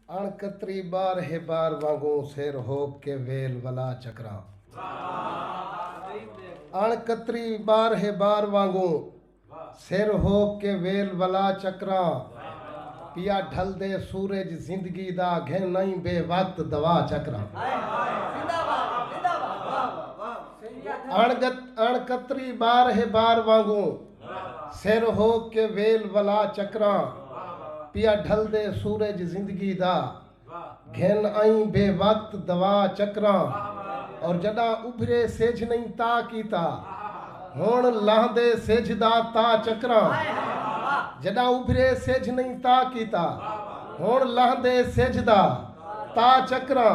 اݨ کتری بار ہے بار وانگوں سر ہوک کے ویل ولا چکراں اݨ کتری بار ہے بار وانگوں سر ہوک کے ویل ولا چکراں پیا ڈھل دے سورج زندگی دا گھن نئیں بے وقت دوا چکراں اݨ کتری بار ہے بار وانگوں سر ہو کے ویل ولا چکراں پیا ڈھلدے سورج زندگی دا گھن ائیں بے وقت دوا چکراں اور جڈاں ابھرے سجھ نئیں تا کیتا ہن لہندے سجھ دا تا چکراں جڈاں ابھرے سجھ نئیں تا کیتا ہن لہندے سجھ دا تا چکراں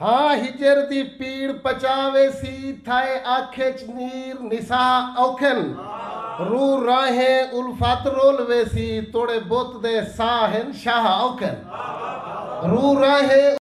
ہاں ہجر دی پیڑ پچا ویسی تھائے اکھ اچ نیر نسا اوکھن روح راہیں الفت رول ویسی توڑے بت دے ساہ ہن شاہ اوکھن روح راہیں